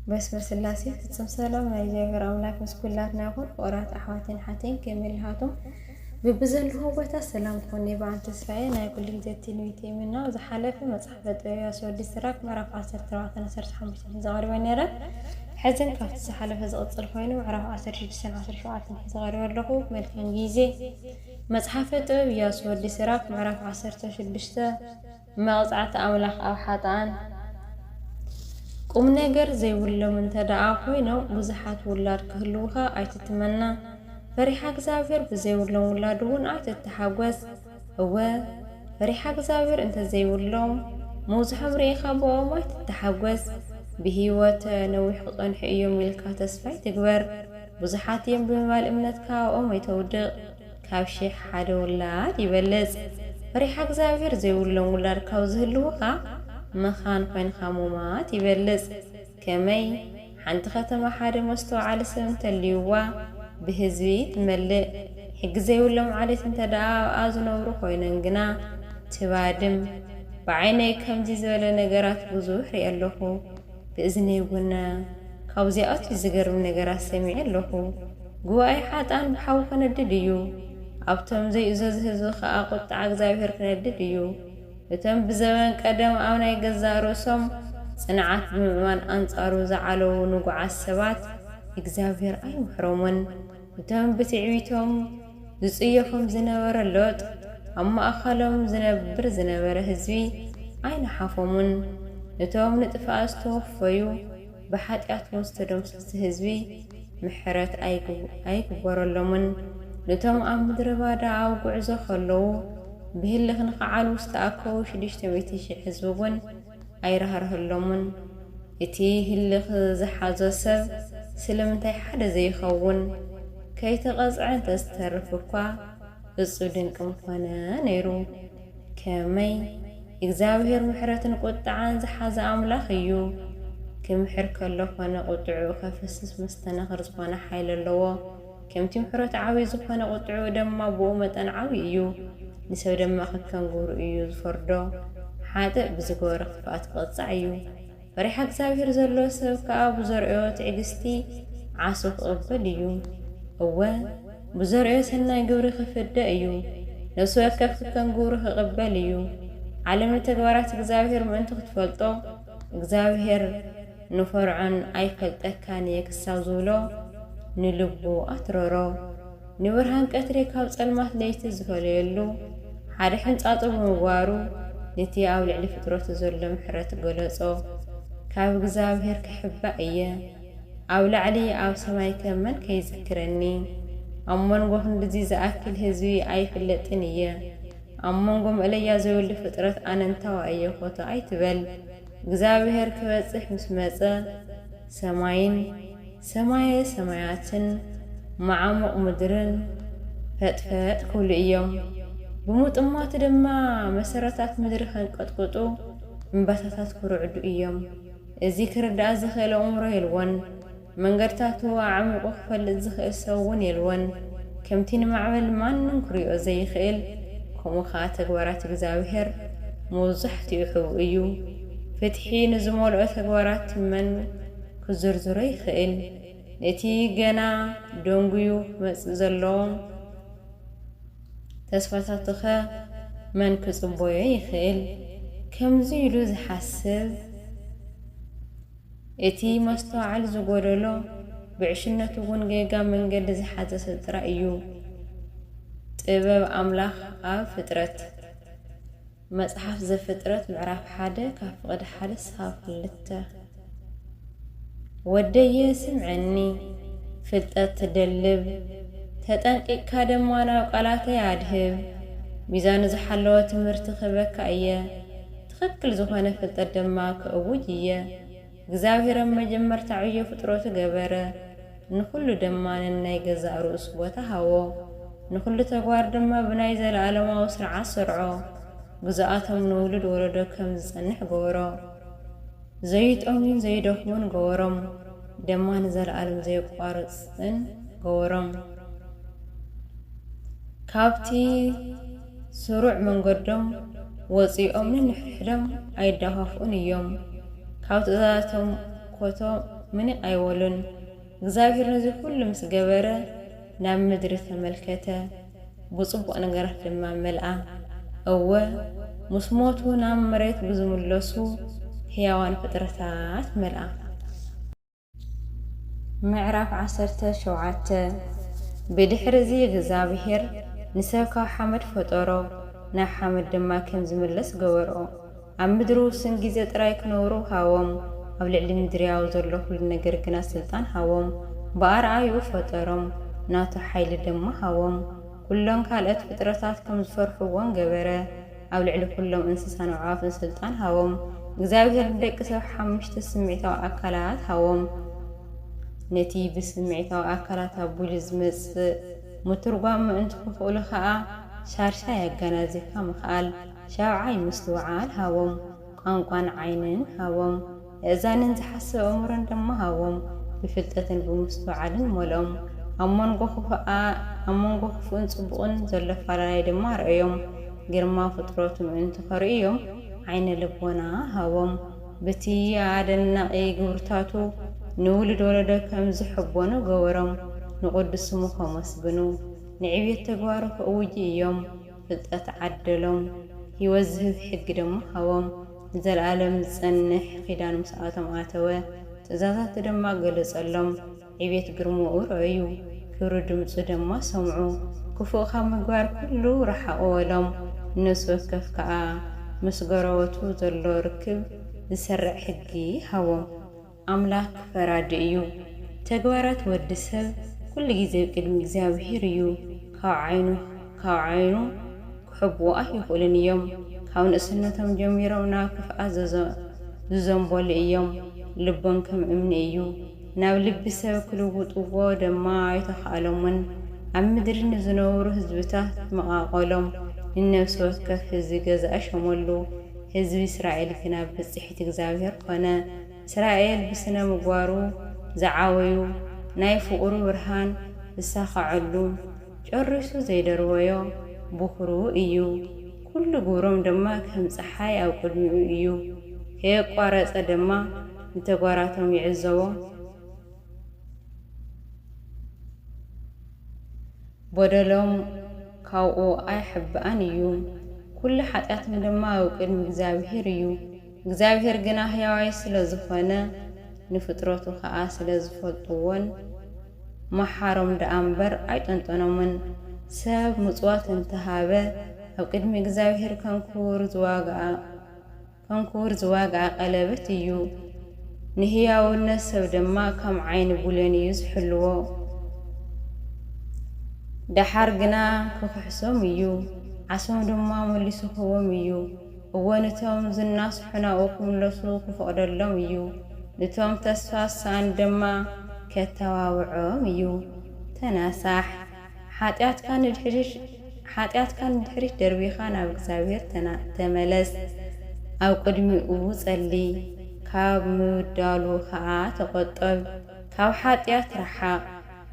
በስመ ስላሴ ፍጽም ሰላም ናይ እግዚኣብሔር ኣምላክ ምስ ኩላትና ይኹን ፍቕራት ኣሕዋተይን ኣሓተይን ከመይ ኣለኻቶም ብብዘለኹም ቦታ ሰላም ክኾን ብዓል ተስፋዬ ናይ ኩሉ ግዜ ትንቢት ይምና ዝሓለፈ መጽሓፈ ጥበብያ ስወዲ ስራክ ምዕራፍ 14 15 ሒዘ ቀሪበ ነይረ ሕዝን ካብቲ ዝሓለፈ ዝቕጽል ኮይኑ ምዕራፍ 16 17 ሒዘ ቀሪበ ኣለኹ መልካም ግዜ መጽሓፈ ጥበብ ኢያሱ ወዲ ስራክ ምዕራፍ 16 መቕጻዕቲ ኣምላኽ ኣብ ሓጥኣን ቁምነገር ዘይብሎም እንተደኣ ኮይኖም ብዙሓት ውላድ ክህልዉኻ ኣይትትመና፣ ፈሪሓ እግዚኣብሔር ብዘይብሎም ውላድውን ኣይትተሓጐስ። እወ፣ ፈሪሓ እግዚኣብሔር እንተ ዘይብሎም ምብዝሖም ርኢኻ ብኦም ኣይትተሓጐስ። ብህይወት ነዊሕ ክጸንሑ እዮም ኢልካ ተስፋ ኣይትግበር፣ ብዙሓት እዮም ብምባል እምነትካ ኣብኦም ኣይተውድቕ። ካብ ሽሕ ሓደ ውላድ ይበልጽ። ፈሪሓ እግዚኣብሔር ዘይብሎም ውላድ ካብ ዝህልዉኻ መኻን ኮይንኻ ሙማት ይበልጽ። ከመይ? ሓንቲ ከተማ ሓደ መስተውዓሊ ሰብ እንተልዩዋ ብህዝቢ ትመልእ። ሕጊ ዘይብሎም ዓሌት እንተደኣ ኣብኣ ዝነብሩ ኮይኖን ግና ትባድም። ብዓይነይ ከምዚ ዝበለ ነገራት ብዙሕ ሪኤ ኣለኹ። ብእዝነይ እውን ካብኡ ኣዝዩ ዝገርም ነገራት ሰሚዐ ኣለኹ። ጉባኤ ሓጥኣን ብሓዊ ክነድድ እዩ፣ ኣብቶም ዘይእዘዙ ህዝቢ ኸኣ ቍጥዓ እግዚኣብሄር ክነድድ እዩ። እቶም ብዘበን ቀደም ኣብ ናይ ገዛእ ርእሶም ጽንዓት ብምእማን ኣንጻሩ ዝዓለዉ ንጉዓት ሰባት እግዚኣብሄር ኣይምሕሮምን። እቶም ብትዕቢቶም ዝጽየፎም ዝነበረ ሎጥ፣ ኣብ ማእከሎም ዝነብር ዝነበረ ህዝቢ ኣይነሓፎሙን። እቶም ንጥፍኣት ዝተወፈዩ ብሓጢኣትዎ ዝተደምሰሱ ህዝቢ ምሕረት ኣይግበረሎምን። ኑቶም ኣብ ምድረባዳ ኣብ ጉዕዞ ከለዉ ብህልኽ ንኽዓልቡ ዝተኣከቡ ሽዱሽተ ሚእቲ ሽሕ ህዝቢ እውን፣ ኣይራህርሀሎሙን እቲ ህልኽ ዝሓዞ ሰብ ስልምንታይ ሓደ ዘይኸውን ከይተቐጽዐ እንተዝተርፍ እኳ እጹብ ድንቂ ምኾነ ነይሩ ከመይ እግዚኣብሔር ምሕረትን ቁጥዓን ዝሓዘ ኣምላኽ እዩ ክምሕር ከሎ ኮነ ቁጥዕኡ ከፍስስ መስተናኽር ዝኾነ ሓይሊ ኣለዎ ከምቲ ምሕረቱ ዓብዪ ዝኾነ ቍጥዕኡ ደማ ብኡ መጠን ዓብዪ እዩ። ንሰብ ደማ ከከም ግብሩ እዩ ዝፈርዶ፣ ሓጥእ ብዝገበሮ ክፍኣት ክቕጻዕ እዩ፣ ፈሪሓ እግዚኣብሄር ዘለዎ ሰብ ከኣ ብዘርእዮ ትዕግስቲ ዓሶ ክቕበል እዩ፣ እወ፣ ብዘርእዮ ሰናይ ግብሪ ክፍደ እዩ፣ ነፍሲ ወከፍ ከከም ግብሩ ክቕበል እዩ። ዓለም ንተግባራት እግዚኣብሄር ምእንቲ ክትፈልጦ፣ እግዚኣብሄር። ንፈርዖን ኣይፈልጠካን እየ ክሳብ ዝብሎ ንልቡ ኣትረሮ። ንብርሃን ቀትሪ ካብ ጸልማት ለይቲ ዝፈለየሉ ሓደ ሕንጻጹ ብምግባሩ ንቲ ኣብ ልዕሊ ፍጥረቱ ዘሎ ምሕረት ገለጾ። ካብ እግዝኣብሄር ክሕባእ እየ። ኣብ ላዕሊ ኣብ ሰማይከ መን ከይዝክረኒ። ኣብ መንጎ ክንድዚ ዝኣክል ህዝቢ ኣይፍለጥን እየ። ኣብ መንጎ መእለያ ዘይብሉ ፍጥረት ኣነንታዋ እየ ኮቶ ኣይትበል። እግዚኣብሔር ክበጽሕ ምስ መጸ ሰማይን ሰማየ ሰማያትን መዓሙቕ ምድርን ፈጥፈጥ ክብሉ ኢዮም። ብምጥማቱ ድማ መሰረታት ምድሪ ከንቀጥቕጡ እምባታታት ክርዕዱ ኢዮም። እዚ ክርዳእ ዝኽእል ኣእምሮ የልቦን። መንገድታቱ ኣዕሚቑ ክፈልጥ ዝኽእል ሰብ እውን የልቦን፣ ከምቲ ንማዕበል ማንም ክሪኦ ዘይኽእል፣ ከምኡ ኸኣ ተግባራት እግዚኣብሄር መብዛሕትኡ ሕቡእ እዩ። ፍትሒ ንዝመልኦ ተግባራት መን ክዝርዝሮ ይኽእል? ነቲ ገና ደንጕዩ ክመጽእ ዘሎ ተስፋታቱኸ መን ክጽበዮ ይኽእል? ከምዚ ኢሉ ዝሓስብ። እቲ መስተውዓል ዝጎደሎ፣ ብዕሽነቱ ውን ጌጋ መንገዲ ዝሓዘ ሰብ ጥራይ እዩ። ጥበብ ኣምላኽ ኣብ ፍጥረት። መጽሓፍ ዘፍጥረት ምዕራፍ ሓደ ካብ ፍቕዲ ሓደ ክሳብ ክልተ። ወደየ ስምዐኒ፣ ፍልጠት ትደልብ፣ ተጠንቂቅካ ደማ ናብ ቃላተይ ኣድህብ፣ ሚዛኑ ዝሓለወ ትምህርቲ ክህበካ እየ። ትኽክል ዝኾነ ፍልጠት ድማ ክእውጅ እየ። እግዚኣብሔር ኣብ መጀመርታ ዕዮ ፍጥረቱ ገበረ፣ ንኹሉ ድማ ነናይ ገዛእ ርእሱ ቦታ ሃቦ። ንኹሉ ተግባር ድማ ብናይ ዘለዓለማዊ ስርዓት ሰርዖ፣ ግዝኣቶም ንውሉድ ወለዶ ከም ዝጸንሕ ገበሮ። ዘይጠምዩን ዘይደኽሙን ገበሮም፣ ደማ ንዘለዓለም ዘየቋርጽን ገበሮም። ካብቲ። ስሩዕ መንገዶም ወጺኦም ነንሕድሕዶም ኣይደፋፍኡን እዮም፣ ካብ ትእዛዛቶም ኰቶ ምንቕ ኣይበሉን። እግዚኣብሄር ነዚ ዅሉ ምስ ገበረ፣ ናብ ምድሪ ተመልከተ፣ ብጽቡቕ ነገራት ድማ መልኣ። እወ፣ ምስ ሞቱ ናብ መሬት ብዝምለሱ ሕያዋን ፍጥረታት መልኣ። ምዕራፍ ዓሰርተ ሸውዓተ ብድኅርዚ እግዚኣብሔር ንሰብ ካብ ሓመድ ፈጠሮ፣ ናብ ሓመድ ድማ ከም ዚምለስ ገበሮ። ኣብ ምድሪ ውሱን ጊዜ ጥራይ ኪነብሩ ሃቦም፣ ኣብ ልዕሊ ምድሪ ኣብ ዘሎ ዅሉ ነገር ግና ሥልጣን ሃቦም። ብኣርኣያኡ ፈጠሮም፣ ናቱ ኃይሊ ድማ ሃቦም። ኵለን ካልኦት ፍጥረታት ከም ዚፈርሕዎን ገበረ። ኣብ ልዕሊ ኵሎም እንስሳን ኣዕዋፍን ስልጣን ሃቦም። እግዚኣብሄር ንደቂ ሰብ ሓሙሽተ ስምዒታዊ ኣካላት ሃቦም። ነቲ ብስምዒታዊ ኣካላት ኣቢሉ ዝመጽእ ምትርጓም ምእንቲ ክኽእሉ ከኣ፣ ሻድሻይ ኣጋናዚብካ ምኽኣል፣ ሻብዓይ ምስትውዓል፣ ሃቦም። ቋንቋን ዓይንን ሃቦም። የእዛንን ዝሓስብ ኣእምሮን ድማ ሃቦም፣ ብፍልጠትን ብምስትውዓልን መልኦም። ኣብ መንጎ ክፉኣ ኣብ መንጎ ክፉእን ጽቡቕን ዘሎ ኣፈላላይ ድማ ኣርኣዮም፣ ግርማ ፍጥረቱ ምእንቲ ከርእዮም ዓይነ ልቦና ሃቦም፣ ብቲ ኣደናቒ ግብርታቱ ንውሉድ ወለዶ ከም ዝሕቦኑ ገበሮም፣ ንቕዱስ ስሙ ከመስግኑ፣ ንዕብየት ተግባሩ ክእውጁ እዮም፣ ፍልጠት ዓደሎም፣ ህይወት ዝህብ ሕጊ ድማ ሃቦም። ንዘልኣለም ዝጸንሕ ኺዳን ምስኣቶም ኣተወ፣ ትእዛዛቱ ደማ ገለጸሎም። ዕቤት ግርማኡ ረኣዩ፣ ክብሪ ድምጹ ደማ ሰምዑ። ክፉእ ካብ ምግባር ኩሉ ረሓቑ በሎም። ንነፍሲ ወከፍ ከኣ ምስ ጎረበቱ ዘሎ ርክብ ዝሰርዕ ሕጊ ሃቦም። ኣምላክ ፈራዲ እዩ ተግባራት ወዲ ሰብ ኩሉ ግዜ ኣብ ቅድሚ እግዚኣብሄር እዩ ካብ ዓይኑ ካብ ዓይኑ ክሕብኡ ኣይክእሉን እዮም ካብ ንእስነቶም ጀሚሮም ናብ ክፍኣት ዘዘ ዝዘንበሉ እዮም ልቦም ከም እምኒ እዩ ናብ ልቢ ሰብ ክልውጥዎ ደማ ኣይተካእሎምን ኣብ ምድሪ ንዝነብሩ ህዝብታት መቃቀሎም ንነብሲ ወከፍ ህዝቢ ገዛኢ ሸመሉ ህዝቢ እስራኤል ግና ብጽሒት እግዚኣብሄር ኮነ። እስራኤል ብስነ ምግባሩ ዝዓበዩ ናይ ፍቅሩ ብርሃን ዝሳከዐሉ ጨሪሱ ዘይደርበዮ ቦክሩ እዩ ኩሉ ግብሮም ድማ ከም ጸሓይ ኣብ ቅድሚኡ እዩ ከየቋረጸ ድማ ንተግባራቶም ይዕዘቦ በደሎም ካብኡ ኣይሕባእን እዩ ኩሉ ሓጢኣቶም ድማ ኣብ ቅድሚ እግዚኣብሄር እዩ። እግዚኣብሄር ግና ሕያዋይ ስለ ዝኾነ፣ ንፍጥረቱ ኸኣ ስለ ዝፈልጥዎን፣ መሓሮም ደኣ እምበር ኣይጠንጠኖምን። ሰብ ምጽዋት እንተ ሃበ፣ ኣብ ቅድሚ እግዚኣብሄር ከም ክቡር ዝዋግኣ፣ ከም ክቡር ዝዋግኣ ቀለበት እዩ። ንሕያውነት ሰብ ድማ ከም ዓይኒ ብሌን እዩ ዝሕልዎ። ደሓር ግና ክኽሕሶም እዩ፣ ዓሶም ድማ መሊሱ ክህቦም እዩ። እወ ንቶም ዝናስሑ ናብኡ ክምለሱ ክፈቕደሎም እዩ፣ ንቶም ተስፋ ዝሰኣኑ ደማ ከተባብዖም እዩ። ተናሳሕ! ሓጢኣትካ ንድሕሪት ሓጢኣትካ ንድሕሪት ደርቢኻ ናብ እግዚኣብሄር ተና ተመለስ፣ ኣብ ቅድሚኡ ጸሊ፣ ካብ ምብዳሉ ከኣ ተቖጠብ፣ ካብ ሓጢኣት ረሓቕ።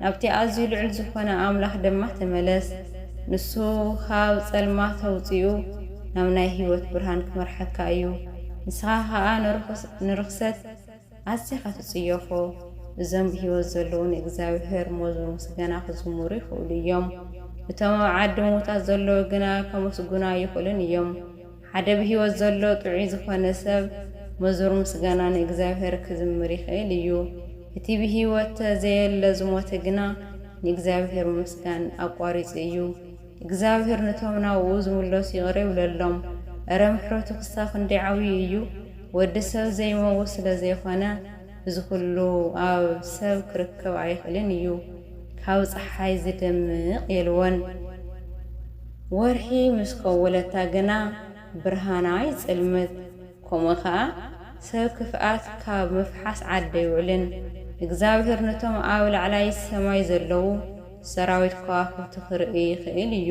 ናብቲ ኣዝዩ ልዑል ዝኾነ ኣምላኽ ድማ ተመለስ፣ ንሱ ኻብ ጸልማት ኣውጺኡ ናብ ናይ ህይወት ብርሃን ኪመርሓካ እዩ፣ ንስኻ ኸኣ ንርኽሰት ኣዚኻ ትጽየፎ። እዞም ብህይወት ዘለዉ ንእግዚኣብሄር መዝሙር ምስጋና ኺዝምሩ ይኽእሉ እዮም፣ እቶም ኣብ ዓዲ ምዉታት ዘለዉ ግና ከመስግኑ ኣይኽእሉን እዮም። ሓደ ብህይወት ዘሎ ጥዑይ ዝዀነ ሰብ መዙር ምስጋና ንእግዚኣብሄር ክዝምር ይኽእል እዩ። እቲ ብህይወተ ዘየለ ዝሞተ ግና ንእግዚኣብሄር ምምስጋን ኣቋሪጹ እዩ። እግዚኣብሄር ንቶም ናብኡ ዝምለሱ ይቕረ ይብለሎም። እረ ምሕረቱ ክሳብ ክንደይ ዓብዩ እዩ! ወዲ ሰብ ዘይመውት ስለ ዘይኰነ፣ እዚ ኩሉ ኣብ ሰብ ክርከብ ኣይኽእልን እዩ ካብ ጸሓይ ዝደምቕ የልቦን ወርሒ ምስ ከወለታ ግና ብርሃና ይጽልምት ከምኡ ከኣ ሰብ ክፍኣት ካብ ምፍሓስ ዓዲ ኣይውዕልን እግዝኣብሄር ነቶም ኣብ ላዕላይ ሰማይ ዘለዉ ሰራዊት ከዋኽብቲ ክርእይ ይኽእል እዩ